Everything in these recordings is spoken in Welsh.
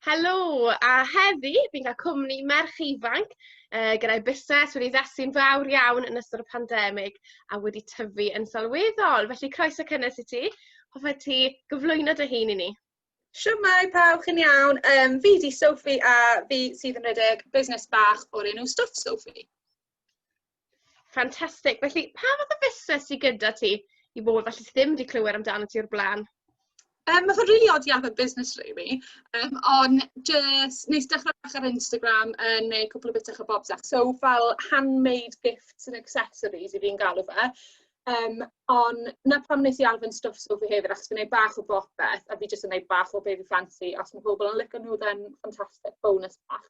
Helo, a heddi fi'n cael cwmni merch ifanc uh, gyda'i busnes wedi ddasu'n fawr iawn yn ystod y pandemig a wedi tyfu yn sylweddol. Felly croeso cynnes i ti. Hoffet ti gyflwyno dy hun i ni? Siwmai pawb, chi'n iawn. Um, fi di Sophie a fi sydd yn rhedeg busnes bach o'r enw Stuff Sophie. Fantastic. Felly, pa fath o fusnes sydd gyda ti i bobl felly sydd ddim wedi clywed amdano ti o'r blaen? Um, mae fe'n rili really odd iawn yn busnes rili, um, ond jyst nes dechrau bach ar Instagram yn neu cwpl o bitach o bobs ac so fel handmade gifts and accessories i fi'n galw fe. Um, ond na pam nes i arfyn stwff so fi hefyd achos fi'n gwneud bach o bopeth a fi jyst yn gwneud bach o baby fancy os mae pobl yn licio nhw then fantastic bonus bach.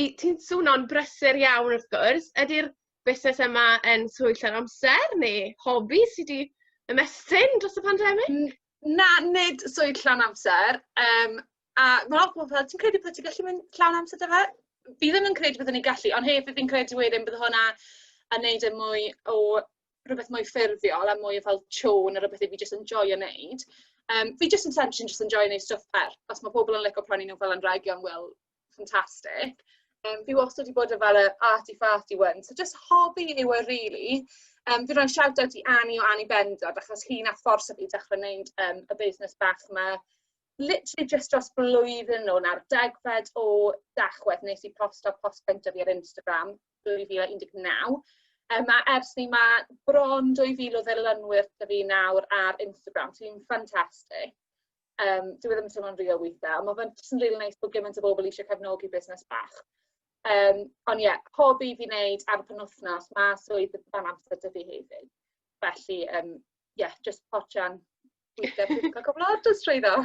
i... ti'n swno'n brysur iawn wrth gwrs, ydy'r busnes yma yn swydd llawn amser neu hobi sy 'di ymestyn dros y pandemig? N- na, nid swydd llawn amser, yym a ma' lot o bobl fel ti'n credu byddet ti'n gallu mynd llawn amser 'da fe? Fi ddim yn credu byddwn i'n gallu ond hefyd fi'n credu wedyn bydd hwnna yn neud e mwy o rwbeth mwy ffurfiol a mwy o fel chore na rwbeth i fi jyst enjoio neud. Yym fi jyst yn essentially jyst enjoio neud stwff fer. Os ma' pobl yn lico prynu nw fel anrhegion wel fantastic. Yym fi wastad 'di bod yn fel y arty farty one so jyst hobi yw e rili. Yym fi roi'n shout out i Annie o Annie Bendant achos hi nath fforso fi i dechre neud yym y busnes bach 'ma literally jyst dros blwyddyn nôl nawr degfed o Dachwedd nes i posto post cynta fi ar Instagram dwy fil a un deg naw yym a ers 'ny ma' bron dwy fil o ddilynwyr 'da fi nawr ar Instagram so fi'n ffantastic. Yym dyw e ddim yn teimlo'n real withe a ma' fe'n jyst yn rili neis bo' gymint o bobol isie cefnogi busnes bach. Yym on' ie pob dydd i neud ar y penwthnos ma' swydd dan amser 'dy fi hefyd. Felly yym ie jyst potsian withe fi'n ca'l cwpwl o orders trwyddo.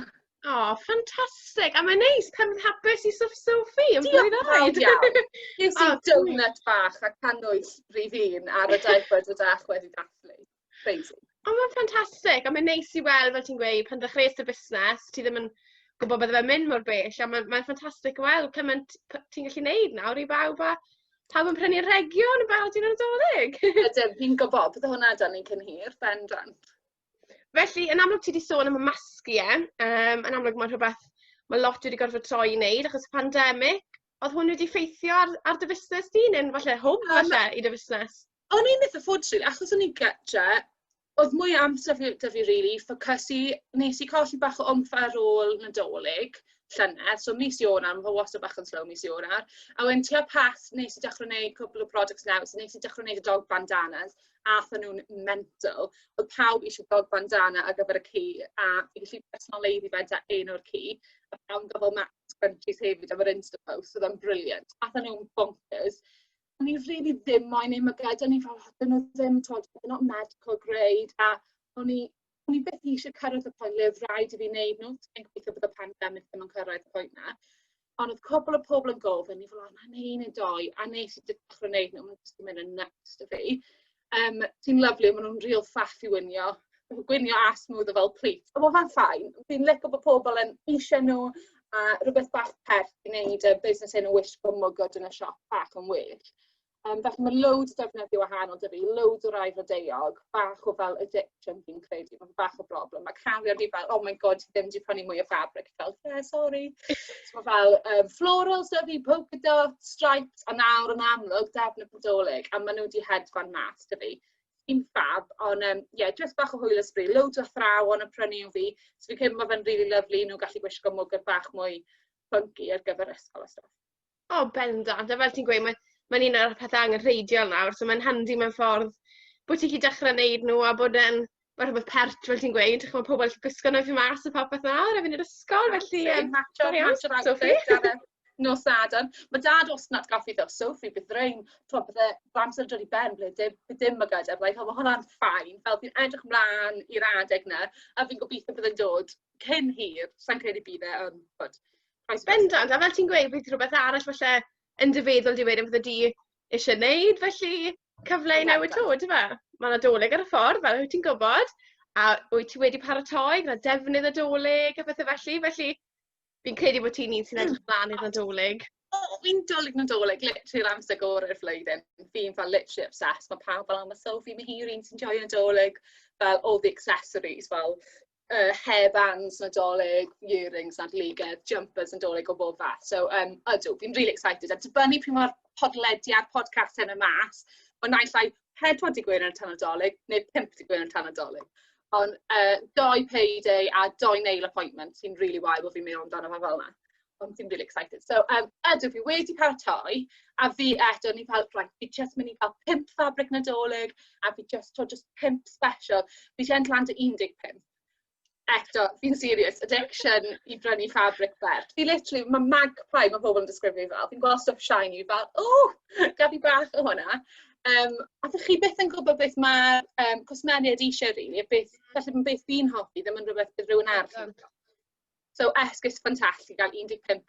O ffantastic a mae'n neis pan yn hapus i Stwff Sophie yn fwy na fawr diolch. Ges i donut bach a cannwyll rif un ar y daith bore 'da chi wedi dathlu. Crazy. Ond ma'n ffantastig a ma'n neis i weld fel ti'n gweud pan ddechreues dy fusnes ti ddim yn gwbo bydde fe'n myn' mor bell a ma' ma'n ffantastic o weld cyment p- ti'n gallu neud nawr i bawb a pawb yn prynu rhegion yn barod i Nadolig. Ydyn fi'n gwbo bydde hwnna 'da ni cyn hir bendant. Felly yn amlwg ti 'di sôn am y masgu ie yym yn amlwg ma' rhwbeth ma' lot wedi gorfod troi i neud achos y pandemic. O'dd hwn wedi ffeithio ar ar dy fusnes di ne'n falle hwb falle i dy fusnes? O'n i'n itha ffodus rili achos o'n i gytre o'dd mwy o amser 'fo 'dy fi rili ffocysu. Nes i colli bach o wmff ar ôl Nadolig llynedd so mis Ionawr ma' fe wastod bach yn slow mis Ionawr a wedyn tua Pasg nes i dechre neud cwpwl o projects neis a nes i dechre neud y dog bandanas a atha nw'n mental. O'dd pawb isie dog bandana ar gyfer y ci a fi gallu personoleiddio fe 'da un o'r ci a pawb yn ga'l fel matching scrunchies hefyd am yr insta post o'dd o'n brilliant. Atha nw'n boncyrs. o'n i rili ddim moyn eu mygydu o'n i fel o 'dyn n'w ddim t'wod they're not medical grade a o'n i o'n i byth eisie cyrredd y pwynt le o'dd raid i fi neud n'w t- fi'n gobeithio bod y pandemic ddim yn cyrraedd y pwynt 'na on' o'dd cwpwl o pobol yn gofyn o'n i fel o 'nai neu' un neu dou a nes i dechre neud n'w ma' jyst 'di myn' yn nyts 'dy fi. Yym ti'n lyfli ma' nw'n rîl ffab i wnïo. Ma' n'w gwinio a smwddio fel plis. A ma' fe'n fine. Fi'n lico bo' pobol yn iwsio n'w a rwbeth bach pert i neud yy busnes yn y wishbone mwgwd yn y siop bach yn well. Yym felly ma' loads o defnyddie wahanol 'da fi. Loads o rai blodeuog, bach o fel y di- Dim fi'n credu, mae'n bach o broblem. Mae cariad fi fel, "Oh my God, ti ddim wedi prynu mwy o ffabrig." Fel, "Yeah, sori." So fel yym florals 'da fi, polka dots, stripes, a nawr yn amlwg defnydd Nadolig a ma' n'w 'di hedfan mas 'dy fi. Dim ffab on' yym ie jyst bach o hwyl a sbri. Loads o athrawon yn prynu un fi so fi'n credu ma' fe'n rili lyfli i n'w gallu gwisgo mwgwd bach mwy ffynci ar gyfer ysgol a stwff. O bendant a fel ti'n gweud mae mae'n un o'r pethe angenrheidiol nawr so mae'n handi mewn ffordd bo' ti 'llu dechre neud nw a bod e'n ma' rhwbeth pert fel ti'n gweud ch'mo' pobol gallu gwisgo nw i fyn' mas a popeth nawr a fyn' i'r ysgol felly yym... Matsio matsio outfit ar y nos Sadwrn. Ma' dad wastod yn atgoffi fi o Sophie bydd rain t'mo' bydd e ma' amser yn dod i ben ble dim by' dim mygyd a fyddai fel ma' hwnna'n fine fel fi'n edrych mlan i'r adeg 'ny a fi'n gobitho bydd e'n dod cyn hir sai'n credu bydd e on' ch'od Oes, bendant. A fel ti'n gweud, bydd rhywbeth arall falle yn dy feddwl di wedyn fydde di eisiau gwneud, felly cyfle i newid to, dy fe? Mae yna doleg ar y ffordd, fel wyt ti'n gwybod, a wyt ti wedi paratoi gyda defnydd y doleg a phethau felly, felly fi'n credu bod ti'n un sy'n edrych mlaen i'r nadolig. O, fi'n dolyg nadolig, literally yr amser gorau'r flwyddyn. Fi'n fel literally obsessed, mae pawb fel, oh, mae Sophie, mae hi'r un sy'n joio nadolig, fel all the accessories, fel yy hairbands Nadolig, earrings Nadoligedd, jumpers Nadolig o bob fath. So yym ydw, fi'n rili excited. A dibynnu pryd mae'r podlediad, podcast hyn yn mas, o naill ai pedwar dydd Gwener tan Nadolig neu pump dydd Gwener tan Nadolig. Ond yy dou payday a dou nail appointment sy'n rili wael bod fi'n meddwl amdano fe fel yna. O fi'n rili excited. So yym ydw fi wedi paratoi a fi eto o'n i fel reit fi jyst myn' i ca'l pump fabric Nadolig a fi jyst t'wo' jyst pump sbesial. Fi 'di ennill lan 'da un deg pump. Eto fi'n serious addiction i brynu fabric fer. Fi literally ma' magpie ma' pobol yn disgrifio fi fel fi'n gwel' stwff shiny fel ww gad fi bach o honna. Yym a 'dych chi byth yn gwbo beth ma' yym cwsmeriaid isie rili a beth falle ma' beth fi'n hoffi ddim yn rwbeth bydd rywun arall yn hoffi. So esgus ffantastig i gael 15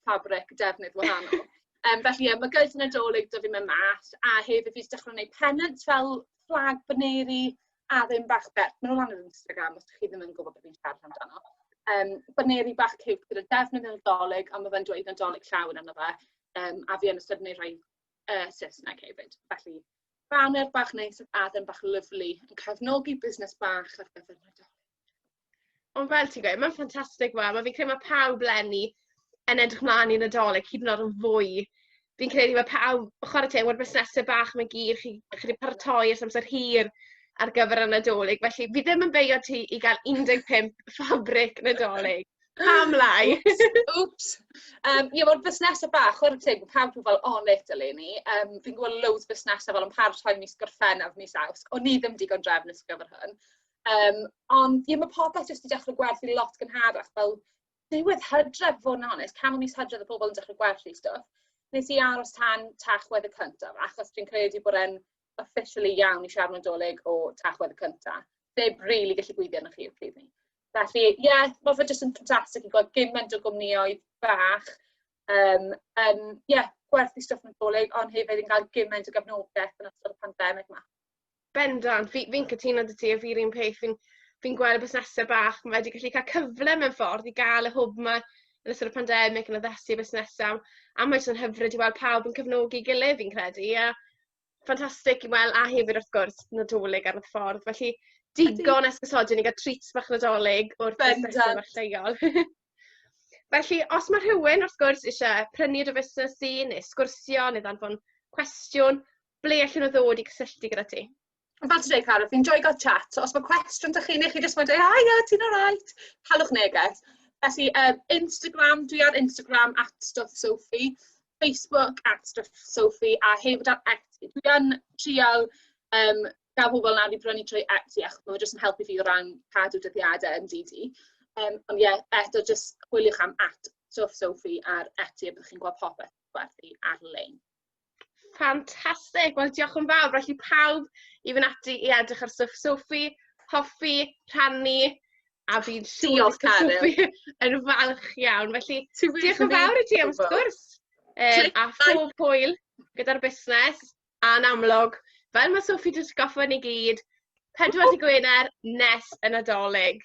ffabrig defnydd wahanol. Yym felly ie ma' gyds Nadolig 'da fi myn' mas a hefyd fi jys dechre neud pennants fel fflag baneri a ddim bach bert ma' nw lan ar Instagram os 'dych chi ddim yn gwbod be' fi'n siarad amdano. Yym baneri bach ciwt gyda defnydd y Nadolig a ma' fe'n dweud Nadolig llawn arno fe yym a fi yn ystod yn neud rhai yy Saesneg hefyd felly baner bach neis a then bach lyfli yn cefnogi busnes bach ar gyfer Nadolig. Ond fel ti'n gweud, mae'n ffantastig fel, wel fi'n credu ma' pawb leni yn edrych mlan i Nadolig hyd yn o'd yn fwy. Fi'n credu ma' pawb, chware teg ma'r busnese bach 'ma i gyd, chi chi 'di paratoi ers amser hir ar gyfer y Nadolig, felly fi ddim yn beio ti i ga'l 15 ffabrig Nadolig. Pam lai? Oops! Um, ie, wel, busnesau bach, chwarae teg, mae pawb yn fel on it eleni. Um, fi'n gweld loads busnesau fel yn paratoi mis Gorffennaf, mis Awst. O'n ni ddim digon drefnus ar gyfer hwn. Yym ond ie ma' popeth jyst 'di dechre gwerthu lot gynharach fel diwedd Hydref i fod yn onest canol mis Hydref o'dd pobol yn dechre gwerthu stwff. Nes i aros tan Tachwedd y cynta achos dwi'n credu bod e'n officially iawn i siarad Nadolig o Tachwedd y cynta. Neb rili gallu gweithio arnoch chi y pryd 'ny. Felly ie ma' fe jyst yn ffantastic i gweld gyment o gwmnioedd bach yym yn ie gwerthu stwff Nadolig on' hefyd yn ga'l gyment o gefnogeth yn ystod y pandemic 'ma. Bendant, fi fi'n cytuno 'da ti a fi'r un peth, fi'n fi'n gweld y busnesau bach ma' wedi gallu cael cyfle mewn ffordd i gael y hwb 'ma yn ystod y pandemig yn addasu busnesau a mae jyst yn hyfryd i weld pawb yn cefnogi gilydd fi'n credu a ffantastig i weld a hefyd wrth gwrs Nadolig ar y ffordd felly digon esgusodyn i gael treats bach Nadolig o'r busnesau bach lleol. Felly, os mae rhywun wrth gwrs eisiau prynu dy fusnes di neu sgwrsio neu ddanfon cwestiwn, ble allan nhw ddod i cysylltu gyda ti? Ond fel ti'n dweud, Carol, fi'n joio gael chat. So, os mae cwestiwn da chi, neu chi jyst mae'n dweud, a ia, ti'n alright, halwch neges. Felly, um, Instagram, dwi ar Instagram at Stuff Sophie, Facebook at Stuff Sophie, a hefyd ar Etsy. Dwi yn trial um, gael pobl nawr i brynu trwy Etsy, achos mae'n jyst yn helpu fi o ran cadw dyddiadau yn DD. Um, ond ie, yeah, eto, jyst chwiliwch am at Stuff Sophie ar Etsy, a byddwch chi'n gweld popeth gwerthu ar-lein. Fantastic! Wel, diolch yn fawr. Felly pawb i fynd ati i edrych ar stwff Sophie, hoffi, rhannu, a fi'n siŵr bod Sophie yn falch iawn. Felly, diolch yn fawr i ti am sgwrs. Um, a phob hwyl gyda'r busnes, a'n amlwg, fel mae Sophie jyst goffa ni gyd, pedwar di Gwener nes y Nadolig.